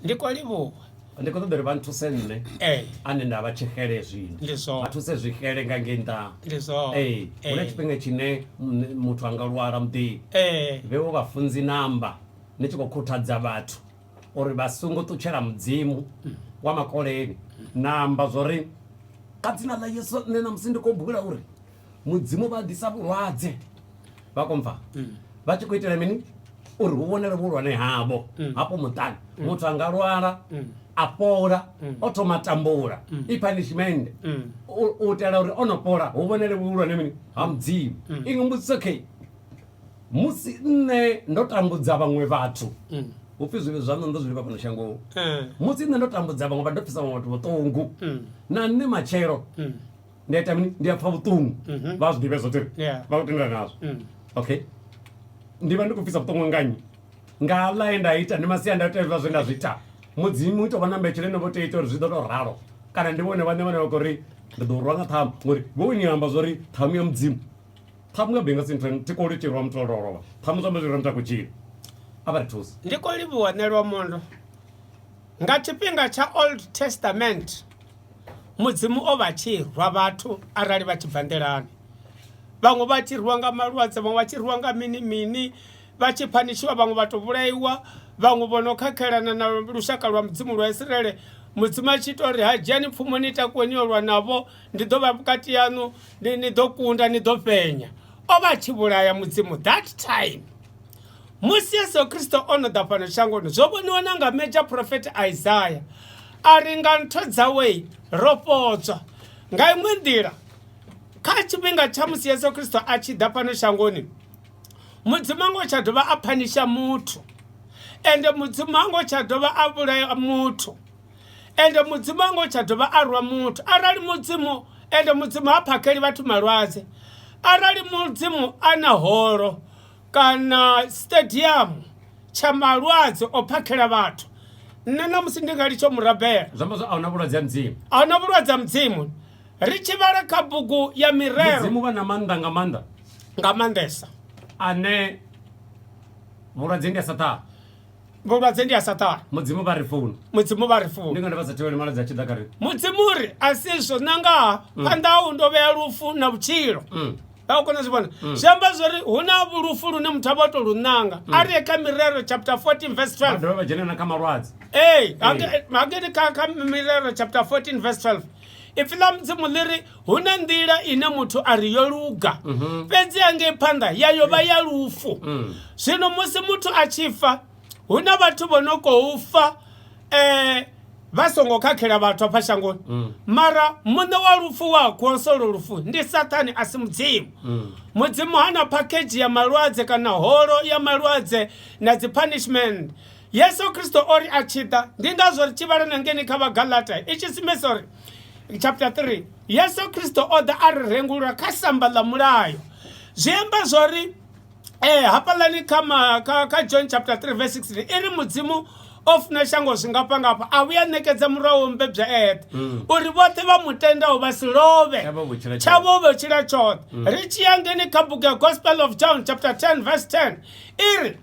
ndi khou livhuwa ndi khou ṱoḓa uri vha nthuse nṋe ee ane nda vha tshixele zwino Ndi zwone. vha thuse zwixele nga ngei nḓa ndi zwone ee hu na tshifhinga tshine mm, muthu a nga lwala muḓini ee vhewo vhafunzi namba ni tshi khou khuthadza vhathu uri vha songo ṱutshela mudzimu wa makoleni namba zwori ka dzina ḽa yesu nṋe namusi ndi khou bula uri mudzimu vha ḓisa vhulwadze vha komfa mm. vha tshi khou itela mini uri hu vhonele vhuhulwane havho mm. hafho muṱani mm. muthu a nga lwala a fhola o thoma tambula i punishment u itela uri o no fhola hu vhonele vhuhulwane mini ha mudzimu iṅwe mbudziso khe musi nṋe ndo tambudza vhaṅwe vhathu hu pfi zwivhi zwaṋu ndo zwi livha fhano shangoni musi nṋe ndo tambudza vhaṅwe vha ndo pfisa vhaṅwe vhathu vhuṱungu na nṋe matshelo ndi a ita mini ndi a pfa vhuṱungu Mhm. vha a zwi ḓivhe zwo tiri Yeah. vha khou tendelana nazwo Mm. okay ndi vha ndi khou bvisa vhuṱungu nga nnyi nga ḽa ye nda ita ndi masiandaitwa hezwiḽa zwe nda zwi ita mudzimu u tou vha na mbetshelo ine vho tea ita uri zwi ḓo tou ralo kana ndi vhone vhaṋe vhane vha khou ri ndi ḓo rwa nga ṱhamu ngori vho ni amba zwa uri ṱhamu ya mudzimu ṱhamu nga benga sinthen thi koli tirwa muthu o lovha ṱhamu zwa mbezwi ra muthu a khou tshila a vha ri thusa ndi khou livhuwa nelwa mondo nga tshifhinga tsha old testament mudzimu o vha tshi rwa vhathu arali vha tshi bva nḓilani vhaṅwe vha tshi rwiwa nga malwadze vhaṅwe vha tshi rwiwa nga mini mini vha tshi phanishiwa vhaṅwe vha to vhulaiwa vhaṅwe vho no khakhelana na lushaka lwa mudzimu lwa isiraele mudzimu a tshi ita uri ha dzhiani pfumo ni takuwe ni yo lwa navho ndi ḓo vha vhukati yaṋu ni ḓo kunda ni ḓo fhenya o vha a tshi vhulaya mudzimu that time musi yesu kristo o no ḓa fhano shangoni zwo vhoniwa na nga major prophet isaya a ri nga ntho dzawe ro fhodzwa nga iṅwe nḓila kha tshifhinga tsha musi yesu kristo a tshi ḓa fhano shangoni mudzimu ngo tsha dovha a phanisha muthu ende mudzimu ngo tsha dovha a vhulaya muthu ende mudzimu ngo tsha dovha a rwa muthu arali mudzimu ende mudzimu ha phakheli vhathu malwadze arali mudzimu a na holo kana stadium tsha malwadze o phakhela vhathu nṋe na musi ndi nga litsho murabela zwiamba zwa ahuna vhulwadze ha mudzimu ahuna vhulwadze ha mudzimu ri tshi vhala kha bugu ya mirero mudzimu vha na maanḓa nga maanḓa nga maanḓesa ane vhulwadze ndi a sa ṱaha vhulwadze ndi a sa ṱaha mudzimu vha ri founu mudzimu vha ri founu ndi ngani vha sa thivheli malwadze a tshi ḓa kha ri mudzimu ri a si zwo nangaha mm. phanḓa hau ndo vhea lufu na vhutshilo mm. a u kona zwi vhona mm. zwi amba zwa uri hu na vhulufu lune muthu a vha o tou lu ṋanga mm. a ri kha mirero chapter 14 verse 12 ee hangeni kha mirero chapter 14 verse 12 ipfi ḽa mudzimu ḽi ri hu na nḓila ine muthu a ri yo luga mhm. fhedzi angei phanḓa ya yo vha ya lufu mm. zwino musi muthu a tshi fa hu na vhathu vho no khou fa um vha songo khakhela vhathu afha shangoni mm. mara muṋe wa lufu wa kuosolo lufu ndi sathane a si mudzimu mm. mudzimu ha na phakhedzhi ya malwadze kana holo ya malwadze na dzi punishment yesu kristo o ri a tshi ḓa ndi ngazwo ri tshi vhala na ngeni kha vhagalata i tshi simesa uri chapter 3 yesu kristo o ḓa a ri rengulula kha samba ḽa mulayo zwi amba zwo ri ee eh, hafhaḽani kha ma kha kha john chapter 3 verse 16 i ri mudzimu o funa shango zwingafhangafha a vhuya ṋekedza murahu wo mbebya eṱhe mm. uri vhoṱhe vha mu tendaho vha si love tshavho vho tshila tshoṱhe mm. ri tshi ya ngeni kha bugu ya gospel of john chapter 10 verse 10 i ri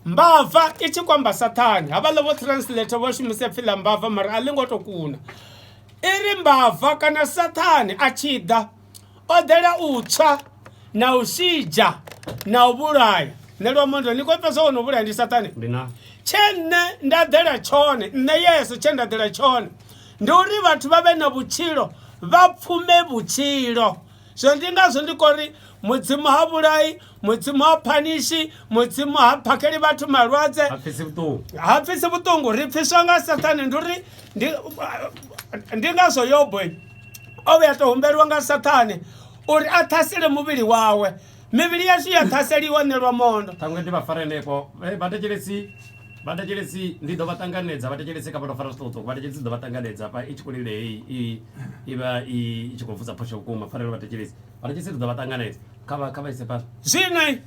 mbava i tshi kwamba sathane havhaḽa vho translate vho shumise pfhi ḽa mbava mara a ḽi ngo to kuna i ri mbava kana sathane a tshi ḓa o ḓela u tswa na u shidzha na u vhulaya nṋe lwamondo ni khou fhedza wo no vhulaya ndi saṱane tshe nṋe nda ḓela tshone nṋe yeso tshe nda ḓela tshone ndi uri vhathu vha vhe na vhutshilo vha pfume vhutshilo zwino ndi ngazwo ndi kho ri mudzimu ha vhulai mudzimu ha phanishi mudzimu ha phakheli vhathu malwadze ha pfisi vhuṱungu ha pfisi vhuṱungu ri pfiswa nga sathane ndi uri ndi ndi ngazwo yobo o vhuya to humbeliwa nga sathane uri a ṱhasele muvhili wawe mivhili yashu ya ṱhaseliwa ṋelwa mondo ṱhaṅwe ndi vha fara henefho vhathetshelesi vhathetshelesi ndi ḓo vha ṱanganedza vhathetshelesi kha vhato fara zwiṱukuṱuku vhathetshelesi ḓo vha ṱanganedza pa i tshi kho lile heyi i vha i tshi khou vusa phosho vhukuma pfarelo vhathetshelesi vhari tshi si ri ḓo vha ṱanganedza kha vha kha vha ise fhano zwine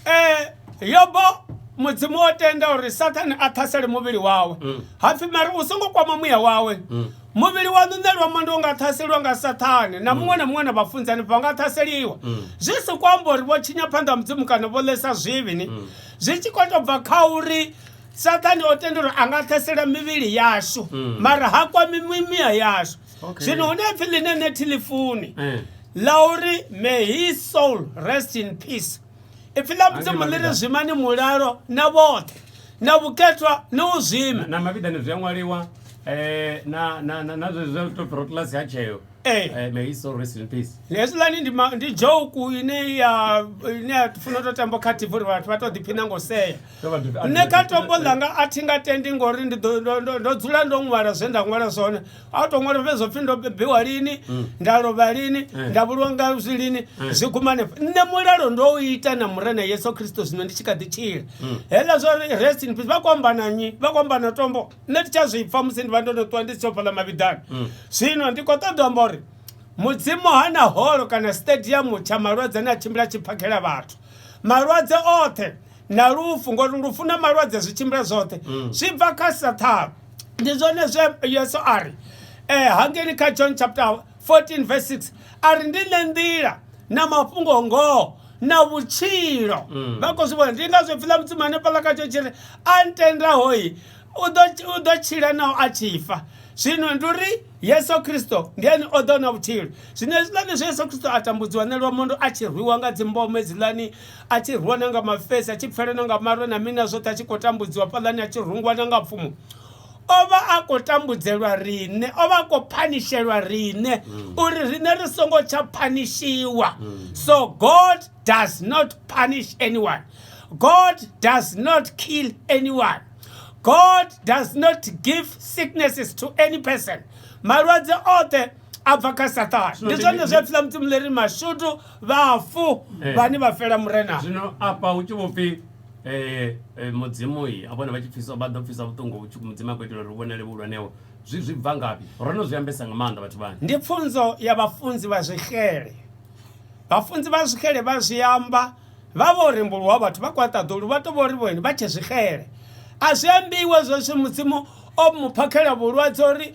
eh yobo mudzimu o tenda uri sathane a ṱhasele muvhili wawe mm. hapfi mari u songo kwama muya wawe mm. muvhili wa ṋuṋelwa mondo u nga ṱhaseliwa nga sathane na mm. muṅwe na muṅwe na vhafunzani vha nga ṱhaseliwa zwi si ku amba uri vho tshinya phanḓa ha mudzimu kana vho ḽesa zwivhi ni zwi tshi khou tou bva kha uri sathane o tenda uri a nga ṱhasela mivhili yashu mara ha kwami mimiya yashu okay. zwino hu na pfi ḽine ne thilifuni eh. ḽa uri may his soul rest in peace ipfi ḽa mudzimu ḽi ri zwimani mulalo na vhoṱhe na vhukethwa na u zwima na mavhidani zwi a ṅwaliwa eh, na na na na zwe zwe to protlasi ha tsheo eh. eh may his soul rest in peace yes lani ndi ndi joke ine ya ine ya funa to tambo kha TV uri vhathu vha to ḓi phina ngo sea nne kha tombo langa a thi nga tendi ngori ndi ndo ndo dzula ndo ṅwala zwe nda ṅwala zwone a u to ṅwala fhedzi zwo pfhi ndo bebiwa lini mm. nda lovha lini eh. nda vhulwa nga zwi lini eh. zwi guma hanefho nṋe mulalo ndo u ita na murena yesu kristo zwino ndi tshi kha ḓi tshila mm. heḽa zwa uri rest in peace vha khou amba na nnyi vha khou amba na tombo nṋe ndi tsha zwi pfa musi ndi vha ndo no ṱuwa ndi si tsho fhaḽa mavhiḓani mm. zwino ndi khou ṱoḓa amba uri mudzimu ha na holo kana stadium tsha malwadze ane a tshimbila tshi phakhela vhathu malwadze oṱhe na lufu ngori lufu na malwadze zwi tshimbila zwoṱhe zwi bva kha sathana ndi zwone zwe yesu a ri eh, hangeni kha john chapter 14 verse 6 a ri ndi nṋe nḓila na mafhungo ngoho na vhutshilo mm. vha khou zwi vhona ndi nga zwi pfila mudzimu hanefhaḽa kha tsho tshi ri a ntendahoi u ḓo tshila naho a tshi fa zwino ndi uri yesu kristo ndi ene o ḓo na vhutshilo zwino hezwiḽani zwe yesu kristo a tambudziwa nelwa mondo a tshi rwiwa nga dzimboma hezwiḽani a tshi rwiwa na nga mafesi a tshi pfela na nga marwe na mina zwoṱhe a tshi khou tambudziwa fhaḽani a tshi rungwa na nga pfumo o vha a khou tambudzelwa riṋe o vha a khou phanishelwa riṋe mm. uri riṋe ri songo tsha phanishiwa mm. so god does not punish anyone god does not kill anyone god does not give sicknesses to any person malwadze oṱhe a bva kha sathane ndi zwone zwi a pfila mudzimu leri mashudu vhafu eh. vhane vha fela murena zwino afha hu tshi vho pfhi eh, eh, mudzimu i a vhone vha tshi pfisa vha ḓo pfisa vhuṱungu hu tshi mudzimu a khou itela uri hu vhonale vhuhulwaneho zwi zwi bva ngafhi ro no zwi ambesa nga maanḓa vhathu vhani ndi pfunzo ya vhafunzi vha zwixele vhafunzi vha zwixele vha zwi amba vha vho rembuluwa vhathu vha kwaṱaḓulu vha to vho ri vhone vha tshe zwixele a zwi ambiwe zwo zwi mudzimu o mu phakhela vhulwadze uri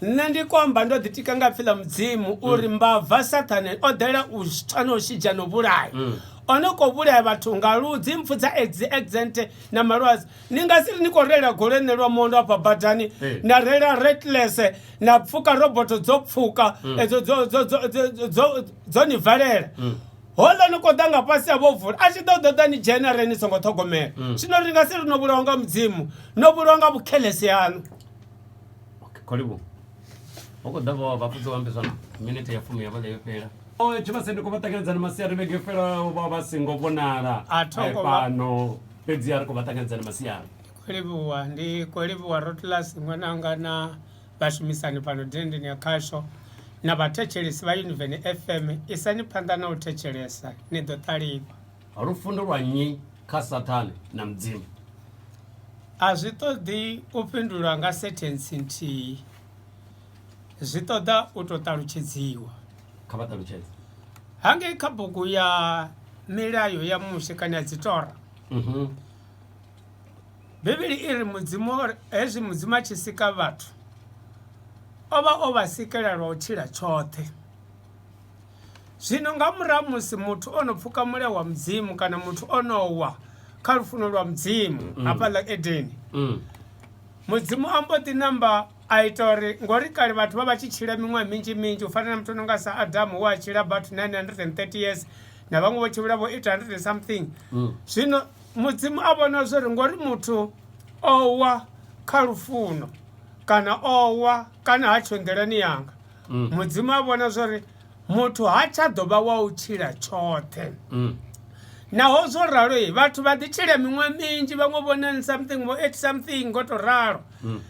Nṋe ndi komba ndo ḓitika nga pfi ḽa mudzimu mm. uri mbava sathane o ḓela u tswa na u shidzha na u vhulaya mm. o no khou vhulaya vhathu nga ludzi mpfu dza exent na malwadze ni nga si ri ni khou reila golo ene lwa mondo afha badani na reila retless na pfuka roboto dzo pfuka mm. edzo dzo ni valela hola ni koda nga fhasi ya vhovula a tshi ḓo ḓoḓa ni dzhena re ni songo ṱhogomela mm. zwino ri nga si ri no vhulawa nga mudzimu no vhulawa nga vhukhelese yanu okay karibu uko ndavo vapfudzi vambisana minete ya fumi yavale yo fhela o tshivhase ndi khou vha ṱanganedzana masiari vhege yo fhelaho vha vha si ngo vhonala A tho ngo vha- fhano fhedzi a ri khou vha ṱanganedzana masiari khou livhuwa ndi khou livhuwa rotlasi ṅwananga na vhashumisani fhano dendeni ya khasho na vhathetshelesi vha univeni fm isani phanḓa na u thetshelesa ni ḓo ṱalifha Lufundo lwa nnyi kha Sathane na Mudzimu? A zwi ṱoḓi u fhindulwa nga senthensi nthihi. Zwi ṱoḓa u tou ṱalutshedziwa. Kha vha ṱalutshedze. Hangei kha bugu ya milayo ya Mushe kana ya dzitora. Mhm. Bivhili i ri Mudzimu hezwi Mudzimu a tshi sika vhathu o vha o vha sikela lwa u tshila tshoṱhe. Zwino nga murahu ha musi muthu o no pfuka mulea wa mudzimu kana muthu o no wa kha lufuno lwa mudzimu mm. hafha ḽa edeni mm. mudzimu a mbo ḓi namba a ita uri ngori kale vhathu vha vha tshi tshila miṅwaha minzhi minzhi u fana na muthu o no nga sa adamu wa tshila about 930 years na vhaṅwe vho tshimbila vho 800 something mm. zwino mudzimu a vhona zwo ri ngori muthu o wa kha lufuno kana o wa kana ha tsho nḓilani yanga mm. mudzimu a vhona zwori muthu ha tsha ḓo vha wa u tshila tshoṱhe mm. naho zwo ralo i vhathu vha ḓi tshila miṅwe minzhi vhaṅwe vho nine something vho eight something ngo to ralo mm.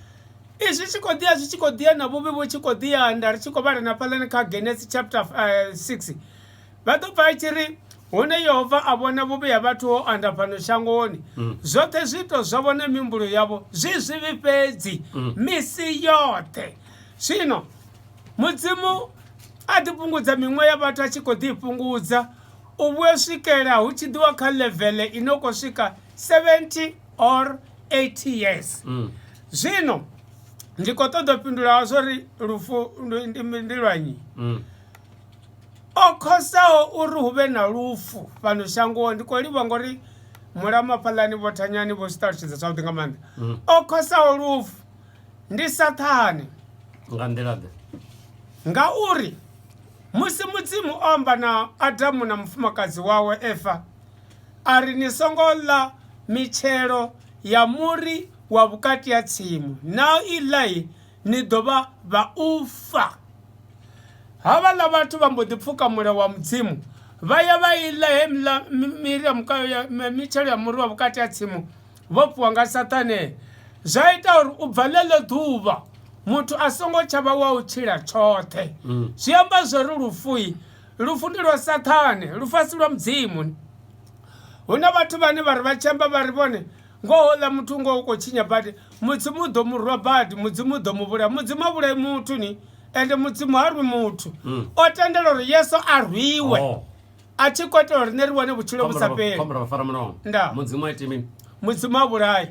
izwi tshi khou ḓiya zwi tshi khou ḓiya na vhuvhi vhu tshi khou ḓiyanda ri tshi khou vhala na fhalani kha genesis chapter eh, six vha ḓo pfa i tshi ri hune yehova a vhona vhuvhi ha vhathu ho anda fhano shangoni mm. zwoṱhe zwiito zwa vhona mihumbulo yavho zwi zwivhi fhedzi mm. misi yoṱhe zwino mudzimu a ḓi fhungudza miṅwe ya vhathu a tshi khou ḓi i fhungudza u vhuya swikela hu tshi ḓiwa kha levele i no khou swika 70 or 80 years mm. zwino ndi khou ṱoḓa u fhindula zwo ri lufu ndi lwanyi mm. o khosaho uri hu vhe na lufu fhano shangoni ndi khou livha ngori mulamafhalani vho thanyani vho zwi ṱalutshedza zwavhuḓi nga maanḓa mm. o khosaho lufu ndi saṱhane nga nḓila ḓe ngauri musi mudzimu o amba na adamu na mufumakadzi wawe efa a ri ni songo ḽa mitshelo ya muri wa vhukati ha tsimu na i ḽai ni ḓo vha vha u fa havhaḽa vhathu vha mbo ḓi pfuka mulayo wa mudzimu vha ya vha i ḽa he miri ya mukayo ya mitshelo ya muri wa vhukati ha tsimu vho fhiwa nga Saṱane zwa ita uri u bva ḽeḽo ḓuvha muthu a songo tsha vha wa u tshila tshoṱhe mm. zwi amba zwori lufui lufu ndi lwa Saṱane lufasi lwa mudzimu hu na vhathu vhane vha ri vha tshi amba vha ri vhone ngoho ḽa muthu ngoho u khou tshinya badi mudzimu u ḓo mu rwa badi mudzimu u ḓo mu vhulaya mudzimu a vhulai muthu ni ende mudzimu ha rwi muthu mm. o tendela uri yesu a rwiwe oh. a tshi khou itela uri nṋe ri wane vhutshilo vhu sa fheli khombela fara mulomo nda mudzimu a ite mini mudzimu a vhulayi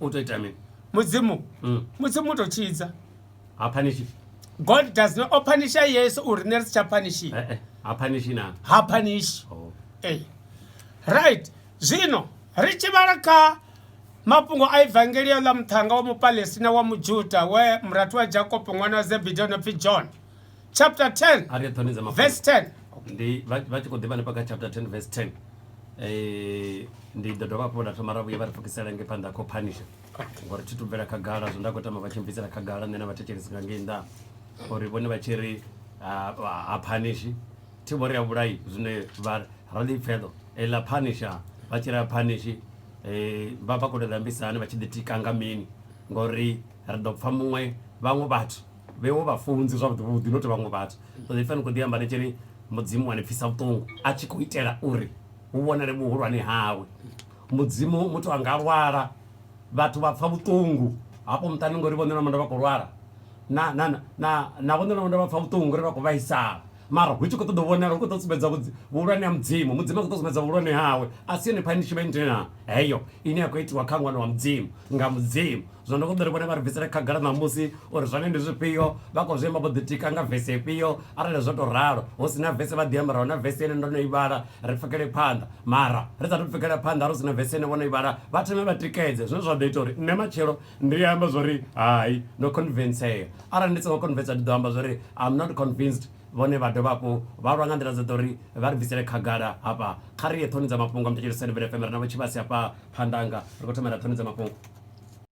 u to ita mini mudzimu mm. mudzimu u to tshidza ha panishi god does not opanisha yesu uri nṋe ri si tsha panishi eh, eh, ha panishi na ha panishi oh. eh. right zwino ri tshi vhala kha mafhungo a evangelio ḽa muṱhanga wa mupalestina wa mujuda we murathu wa jakopo ṅwana wa zebidi o no pfi john chapter 10 a ri ṱhonedza mafhungo verse 10 ndi vha vha tshi khou ḓivha hanefha kha chapter 10 verse 10 eh ndi ḓo dovha hafhu nda thoma ra vhuya vha ri pfukisela nge phanḓa kho phanisha ngori thi tubvela khagala zwo nda khou tama vha tshi mbvisela khagala nṋe na vhathetshelesi nga ngei nnḓa uri vhone vha tshi ri ha- ha ha phanishi thi vho ri a vhulai zwine vha ra ḽipfeḓo ḽa phanisha vha tshi ri a phanishi eh vha vha khou tou ḓambisa hani vha tshi ḓitika nga mini ngori ri ḓo pfha muṅwe vhaṅwe vhathu vhewo vhafunzi zwavhuḓi vhuḓi not vhaṅwe vhathu so if ni khou ḓi amba ni tshiri mudzimu wa ni pfisa vhuṱungu a tshi khou itela uri hu vhonale vhuhulwane hawe mudzimu muthu a nga lwala vhathu vha pfa vhuṱungu hafho muṱani ngori vhone na manda vha khou lwala na na na na vhone na manda vha pfa vhuṱungu ngori vha khou vhaisala mara hu tshi khou ṱoḓa vhonala hu khou ṱoḓa sumbedza vhuhulwane ha mudzimu mudzimu a khou ṱoḓa sumbedza vhuhulwane hawe a si yone punishment na heyo ine ya khou itiwa kha ṅwana wa mudzimu nga mudzimu Zwino ndo ṱoḓa uri vhone vha ri bvisele khagala ṋamusi uri zwone ndi zwifhio, vha khou zwi amba vho ḓitika nga vesi ifhio. Arali zwo tou ralo, hu si na vesi vha ḓi ambara huna vesi ine ndo no i vhala, ri pfukele phanḓa. Mara, ri sa athu pfukela phanḓa arali hu si na vesi ine vho no i vhala, vha thome vha tikedze. Zwine zwa ḓo ita uri nṋe matshelo ndi ambe zwa uri hai, ndo convincea. Arali ndi songo convincea ndi ḓo amba zwa uri I'm not convinced. Vhone vha dovha hafhu vha lwa nga nḓila dzoṱhe uri vha ri bvisele khagala hafha. Kha ri ye ṱhoni dza mafhungo, muthetshelesi Sandile FM. Ri na Vho Tshivhase hafha phanḓa hanga, ri khou thoma ra ṱhoni dza mafhungo.